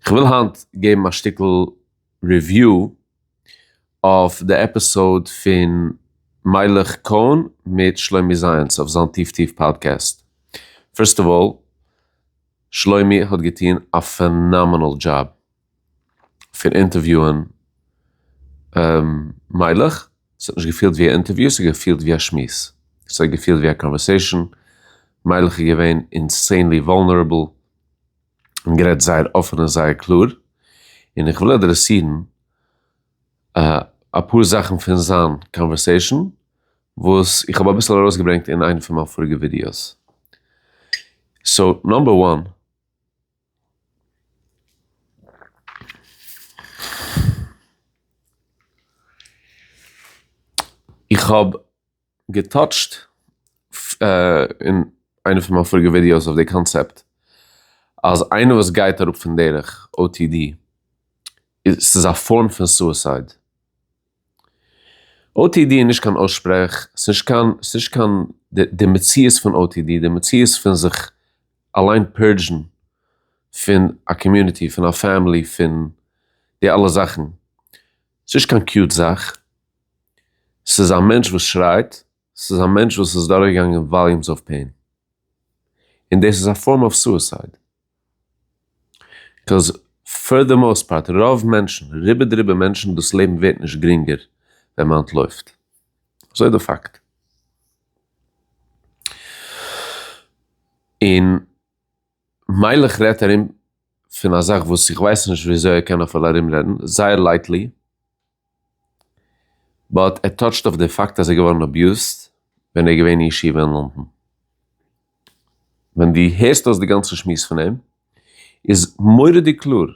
כ'וויל היינט געבן א שטיקל ריוויו אויף די עפיסאוד פון מיילעך קאהן מיט שלומי זיינס אויף זיין טיף טיף פאדקעסט. פירסט אוו אלל, שלומי האט געטון א פענאמענעל דזשאב פון אינטערוויוען מיילעך, ס'האט נישט געפילט ווי א אינטערוויו, ס'האט געפילט ווי א שמועס, ס'האט געפילט ווי א קאנווערסעישאן, מיילעך איז געווען אינסענלי וואלנערעבל, און גערעדט זייער אפען און זייער קלאר, און איך וויל אדרעסירן אפאר זאכן פון זיין קאנווערסעישאן וואס איך האב אביסל ארויסגעברענגט אין איינע פון מיין פאריגע ווידיאוס. סאו, נאמבער וואן. איך האב. געטאטשט אין איינע פון מיין פאריגע ווידיאוס אויף די קאנצעפט אז איינער וואס גייט אראפ פון דרך otd איז ס'איז א פארם פון סוסייד. otd איז נישט קיין אויסשפרעך, ס'נישט קיין ס'נישט קיין די מציאות פון otd, די מציאות פון זיך אליין פערדזשן פון א קאמיוניטי, פון א פעמילי, פון די אלע זאכן, ס'נישט קיין קיוט זאך. ס'איז א מענטש וואס שרייט, ס'איז א מענטש וואס איז דורכגעגאנגען וואליומס אוו פעין, און דאס איז א פארם אוו סועסייד, קאוז פאר די מאוסט פארט, רוב מענטשן, רובא דרובא מענטשן, דאס לעבן ווערט נישט גרינגער ווען מען אנטלויפט, אזוי איז די פאקט. און מילא כ'רעדט ארום פון א זאך וואס איך ווייס נישט וויאזוי ער קען אפילו ארומרעדן, זייער לייטלי, באט ער טאטשט אויף די פאקט אז ער איז געווארן אביוזט ווען ער איז געווען אין ישיבה אין לאנדאן. ווען דו הערסט אויס די גאנצע שמועס פון אים איז מורא'דיג קלאר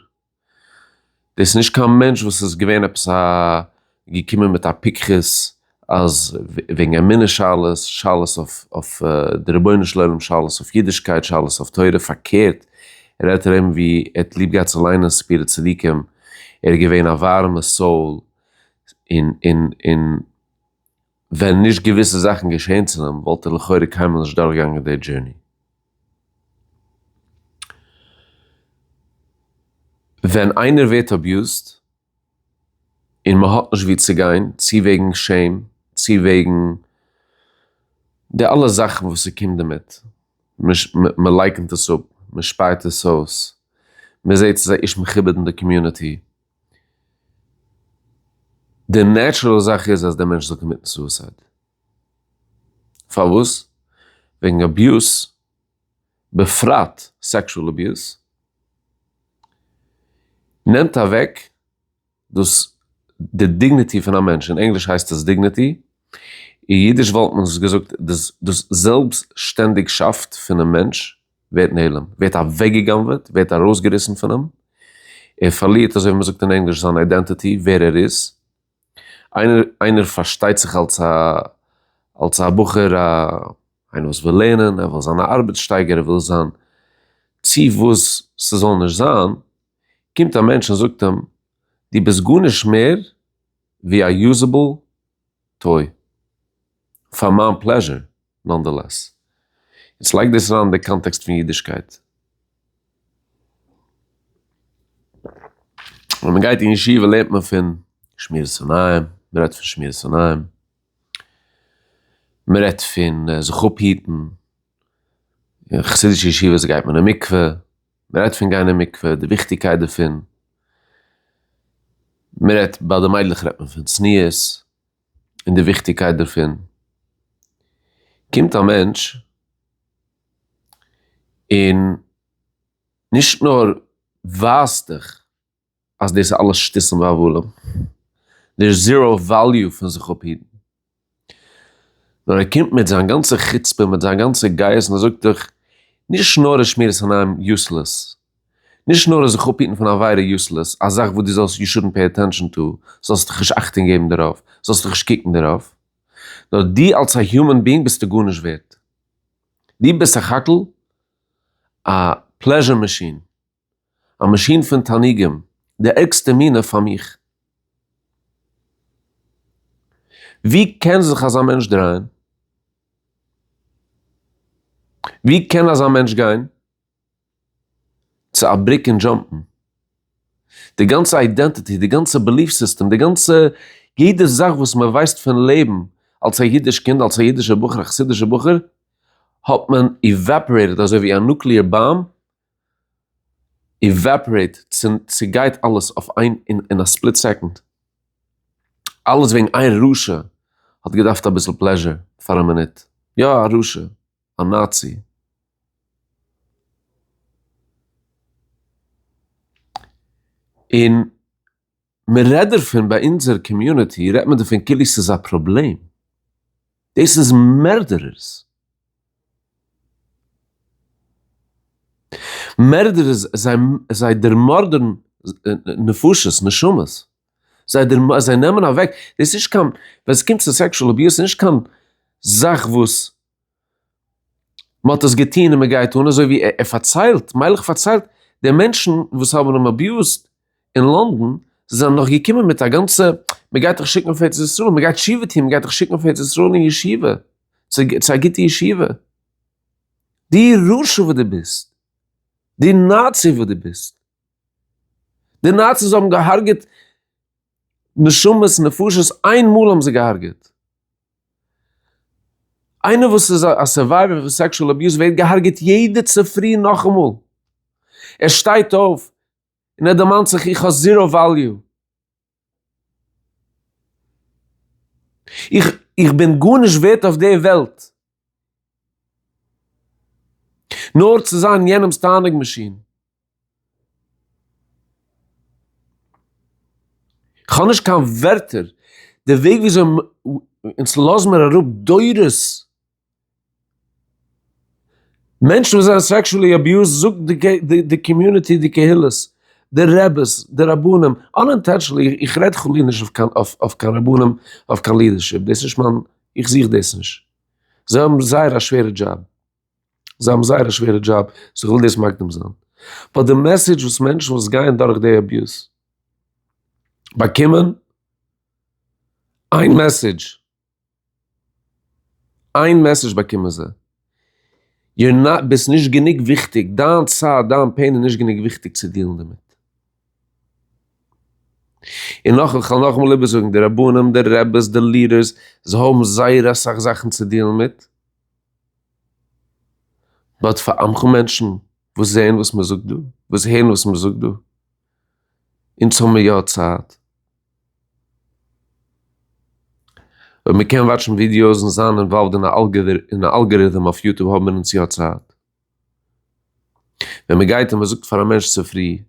דאס איז נישט קיין מענטש וואס איז געווען עפעס א געקומען מיט א פיקחות אז וועגן אמונה שאלות, שאלות אויף די רבונו של עולם, שאלות אויף אידישקייט, שאלות אויף תורה, פארקערט רעדט ער אים ווי ער האט ליב געהאט צו ליינען ספרי צדיקים, ער איז געווען א ווארעמע סאול, און און און ווען נישט געוויסע זאכן געשען צו אים וואלט ער לכאורה קיינמאל נישט דורך געגאנגען די דזשורני. ווען איינער ווערט אביוזט. און מען האט נישט וואו צו גיין, צו וועגן שעם, צו וועגן די אלע זאכן וואס ס'קומט דערמיט, מען לייקנט עס אפ, מען שפייט עס אויס, מען זעט ס'איז א איש מכובד אין די קאמיוניטי, די נעטשרעל זאך איז אז דער מענטש זאל קאמיטן סוסייד, פארוואס? וועגן אביוז. בפרט סעקשועל אביוז, נעמט אוועק דאס די דיגניטי פון א מענטש, אין ענגליש הייסט עס דיגניטי, אין אידיש וואלט מען דאס געזאגט דאס זעלבסשטענדיגשאפט פונעם מענטש ווערט נעלם, ווערט אוועקגעגנבעט, ווערט ארויסגעריסן פון אים, ער פארלירט אזוי ווי מען זאגט אין ענגליש זיין אידענטיטי, ווער ער איז. איינער פארשטייט זיך אלס א אלס א בחור א איינער וואס וויל לערנען ער וויל זיין א ארבעט שטייגער ער וויל זיין צו וואס ס'זאל נישט זיין, קומט א מענטש און זאגט אים דו ביסט גארנישט מער ווי א יוזעבל טוי פאר מיין פלעזשער, נאנדעלעס, יעצט לייג דאס אריין אין די קאנטעקסט פון אידישקייט. ווען מען גייט אין ישיבה לערנט מען פון שמירת עיניים, מען רעדט פון שמירת עיניים, מען רעדט פון זיך אפהיטן, אין חסידישע ישיבות גייט מען אין מקווה, מען רעדט פון גיין אין מקווה, די וויכטיגקייט דערפון, מען רעדט, ביי די מיידלעך רעדט מען פון צניעות. און די וויכטיגקייט דערפון, קומט א מענטש און נישט נאר ווייזט דיך אז דאס איז אלעס שטותים והבלים, דער איז זיראו וועליו פון זיך אפהיטן, נאר ער קומט מיט זיין גאנצע חוצפה, מיט זיין גאנצע גייערס און ער זאגט דיך, נישט נאר איז שמירת עיניים יוסלעס, נישט נאר זיך אפהיטן פון עבירה יוסלעס, א זאך וואס דו זאלסט יו שודנט פעי עטענשאן טו, זאלסט נישט אכטונג געבן דערויף, זאלסט נישט קוקן דערויף, נאר דו אלס א היומען ביאינג ביסטו גארנישט ווערט. דו ביסט סך הכל א פלעזשער מאשין, א מאשין פון תענוגים, די ערגסטע מינע פאר מיך. ווי קען זיך אזא מענטש דרייען? ווי קען אזא מענטש גיין? צו א בריק און דזשאמפן. די גאנצע איידענטיטי, די גאנצע בעליף סיסטעם, די גאנצע יעדע זאך וואס מען ווייסט פון לעבן אלס א אידיש קינד, אלס א אידישער בחור, א חסידישער בחור, האט מען איוועפארעיטעד אזוי ווי א נוקלעאר באם איוועפארעיט, צעגייט אלעס אויף איין אין א ספליט סעקאנד. אלעס וועגן איין רשע האט געדארפט אביסל פלעזשער פאר א מינוט. יא א רשע. א נאצי. און מען רעדט דערפון ביי אונזער קאמיוניטי רעדט מען דערפון כאילו ס'איז א פראבלעם. דאס איז מערדערערס. מערדערערס זיי דערמארדערן נפשות, נשמות. זיי נעמען אוועק, דאס איז נישט קיין, ווען ס'קומט צו סעקשול אביוז ס'איז נישט קיין זאך וואס מען האט עס געטון און מען גייט אן אזוי ווי ער פארציילט, מיילעך פארציילט, די מענטשן וואס האבן אים אביוזט אין לאנדאן זענען נאך געקומען מיט א גאנצע, מען גייט דיך שיקן אויף ארץ ישראל, מען גייט תשובה טון, מען גייט דיך שיקן אויף ארץ ישראל אין ישיבה, צו א גוטע ישיבה, דו רשע וואס דו ביסט, דו נאצי וואס דו ביסט, די נאציס האבן געהארגעט נשמות נפשות, איין מאל האבן זיי געהארגעט. איינער וואס איז א סורווייווער פון סעקשועל אביוז ווערט געהארגעט יעדע צופרי נאכאמאל, ער שטייט אויף און ער דערמאנט זיך איך האב זירא וועליו, איך איך בין גארנישט ווערט אויף די וועלט, נאר צו זיין יענעמס תענוג מאשין. כ'האב נישט קיין ווערטער, די וועג וויאזוי אונז לאזן מיר אראפ דורות מענטשן וואס זענען סעקשועלי אביוזד זאגט די קאמיוניטי, די קהילות, די רעבעס, די רבנים, אנאינטענשענלי, איך רעד חלילה נישט אויף קיין רבנים, אויף קיין לידערשיפ, דאס איז נישט מיין. איך זוך דאס נישט. זיי האבן זייער א שווערע דזשאב. זיי האבן זייער א שווערע דזשאב, סאו איך וויל דאס מקדים זיין. באט די מעסעדזש וואס מענטשן וואס גייען דורך די אביוז באקומען, איין מעסעדזש, איין מעסעדזש באקומען זיי. יור נאט ביסט נישט גענוג וויכטיג, דיין צייט, דיין פעין איז נישט גענוג וויכטיג צו דיעלן דערמיט. און נאך איך וועל נאכאמאל איבערזאגן, די רבנים, די רעבעס, די לידערס, זיי האבן זייער אסאך זאכן צו דיעלן מיט, באט פאר עמך מענטשן וואס זעען וואס מ'זאגט דא, וואס הערן וואס מ'זאגט דא, אונז האבן מיר יא צייט. אויב מען קען וואטשן ווידיאוס אן זיין אינוואלווד אין א אלגעריטעם אויף יוטוב האבן מיר אונז יא צייט. ווען מען גייט און מען זאגט פאר א מענטש צופרי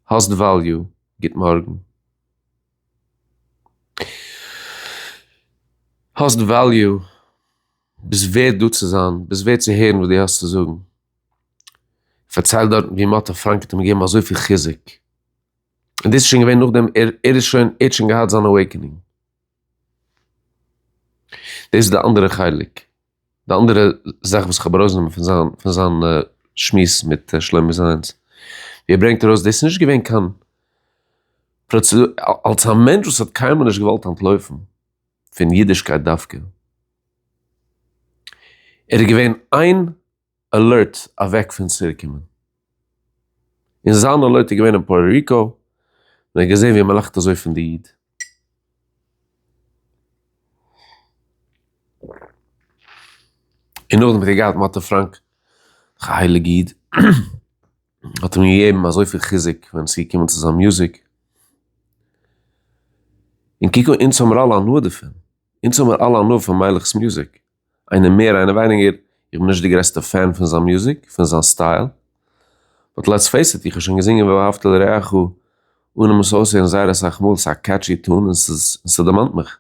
האסט וועליו, גוט מארגן, האסט וועליו, ביסט ווערד דא צו זיין, ביסט ווערד צו הערן וואס דו האסט צו זאגן, פארצייל דארטן ווי מען האט א פראנק האט אים געגעבן אזויפיל חיזוק. און דאס איז שוין געווען נאכדעם ער ער איז שוין ער האט שוין געהאט זיין אוועיקענינג. דאס איז די אנדערע חלק, די אנדערע זאך וואס כ'האב ארויסגענומען פון זיין פון זיין שמועס מיט שלומי זיינס, ווי ער ברענגט ארויס דאס איז נישט געווען קיין פראצעדור, אלס א מענטש וואס האט קיינמאל נישט געוואלט אנטלויפן פון אידישקייט דווקא, ער איז געווען איין. אלערט אוועק פון צירוקומען. און זיין אלערט איז געווען אין פארא ריקאו ווען ער האט געזעהן ווי מ'לאכט אזוי פון די איד. און נאכדעם האט ער געהאט מאטא פראנק דורך א הייליג איד האט אים געגעבן אזויפיל חיזוק ווען עס איז געקומען צו זיין מוזיק. און קוק אן אונז האמיר אלע הנאה דערפון. אונז האמיר אלע הנאה פון מיילעך'ס מוזיק. איינער מער איינער ווייניגער, איך בין נישט די גרעסטע פען פון זיין מוזיק, פון זיין סטייל, באט לעטס פעיס איט, איך האב שוין געזינגען ואהבת לרעך אן אים עס אויסהערן זייער אסאך מאל, ס'איז א קעטשי טון און ס'דערמאנט מיך,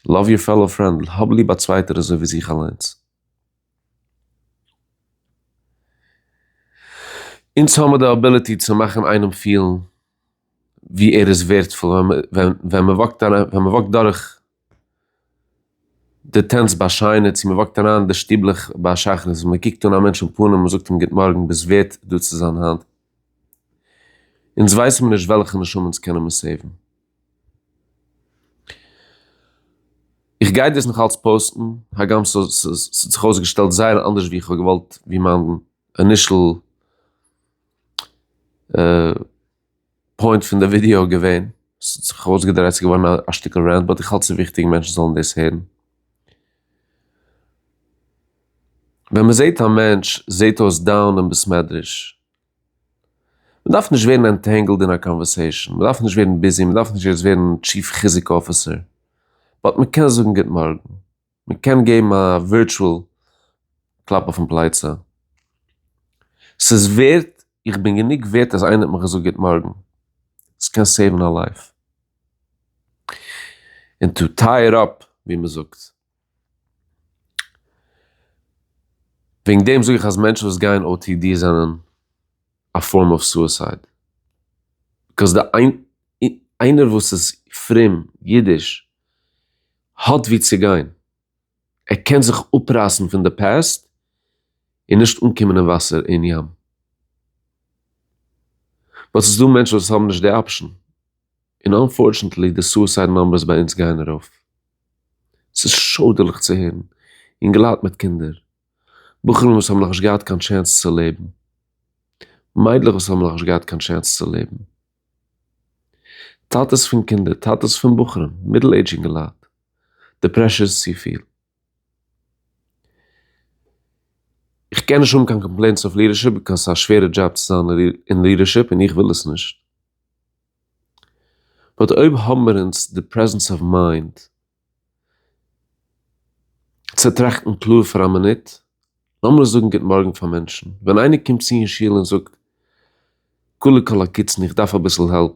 לאוו יור פעלאו פרענד, האב ליב א צווייטער אזוי ווי זיך אליינס. אונז האמיר די אביליטי צו מאכן איינעם פילן ווי ער איז ווערדפול ווען מ'וואקט דורך די טענצט ביי שיינע צו מ'וואקט אריין די שטיבלעך ביי שחרית מ'קוקט אן א מענטש אין פנים מ'זאגט אים גוט מארגן ביסט ווערט דא צו זיין היינט אונז ווייסן מיר נישט וועלכע נשמה אונז קענען מיר סעיוון. איך גיי דאס נאך אלץ פאוסטן הגם ס'האט זיך אויסגעשטעלט זייער אנדערש ווי איך האב געוואלט ווי מיין אינישעל פוינט פון די ווידיאו געווען, ס'האט זיך אויסגעדרייט ס'איז געווארן א שטיקל רענט, באט איך האלט ס'איז וויכטיג מענטשן זאלן דאס הערן. ווען מ'זעהט א מענטש זעהט אויס דאון אין בית מדרש. מ'דארף נישט ווערן ענטענגלד אין א קאנווערסעישן, מ'דארף נישט ווערן ביזי, מ'דארף נישט יעצט ווערן טשיף חיזוק אפיסער, באט מ'קען זאגן גוט מארגן. מען קען געבן א ווירטשועל קלאפ אויפן פלייצע. ס'איז ווערט, איך בין גענוג ווערט אז איינער האט מיך געזאגט גוט מארגן. ס'קען סעיוון א לייף. און טו טיי איט אפ ווי מ'זאגט. וועגן דעם זאג איך אז מענטשן וואס גייען או טי די זענען א פארם אוו סועסייד. ביזקאויס די איינער וואס איז פרום, אידיש. האט ווי צו גיין, ער קען זיך אפרייסן פון די פעסט און נישט אנקומען אין וואסער אין ים, באט ס'איז דא מענטשן וואס האבן נישט די אפשן, און אנפארטשענטלי די סוסייד נאמבערס ביי אונז גייען ארויף, ס'איז שוידערליך צו הערן, אינגעלייט מיט קינדער, בחורים וואס האבן נאכנישט געהאט קיין טשענס צו לעבן, מיידלעך וואס האבן נאכנישט געהאט קיין טשענס צו לעבן. טאטעס פון קינדער, טאטעס פון בחורים, מידל עידזש אינגעלייט, די פרעשור איז צופיל. איך קען נישט האבן קיין קאמפלעינטס אויף לידערשיפ ביקאויס ס'איז א שווערע דזשאב צו זיין אין לידערשיפ און איך וויל עס נישט. באט אויב האבן מיר אונז די פרעזענס אוו מיינד צו טראכטן קלאר פאר א מינוט, לאמיר זאגן גוט מארגן פאר מענטשן, ווען איינער קומט צו אין שול און זאגט כלו כל הקיצין איך דארף אביסל העלפ,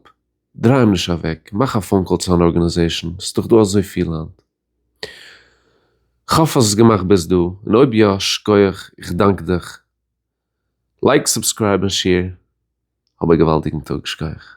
דריי אים נישט אוועק, מאך א פאון קאל צו אן ארגענעזעישן, ס'איז דאך דא אזוי פיל היינט. כ'האף אז ס'איז געמאכט ביז דא, און אויב יא, שכוח, איך דאנק דיך. לייק, סובסקרייב און שעיר. האב א געוואלדיגן טאג. שכוח.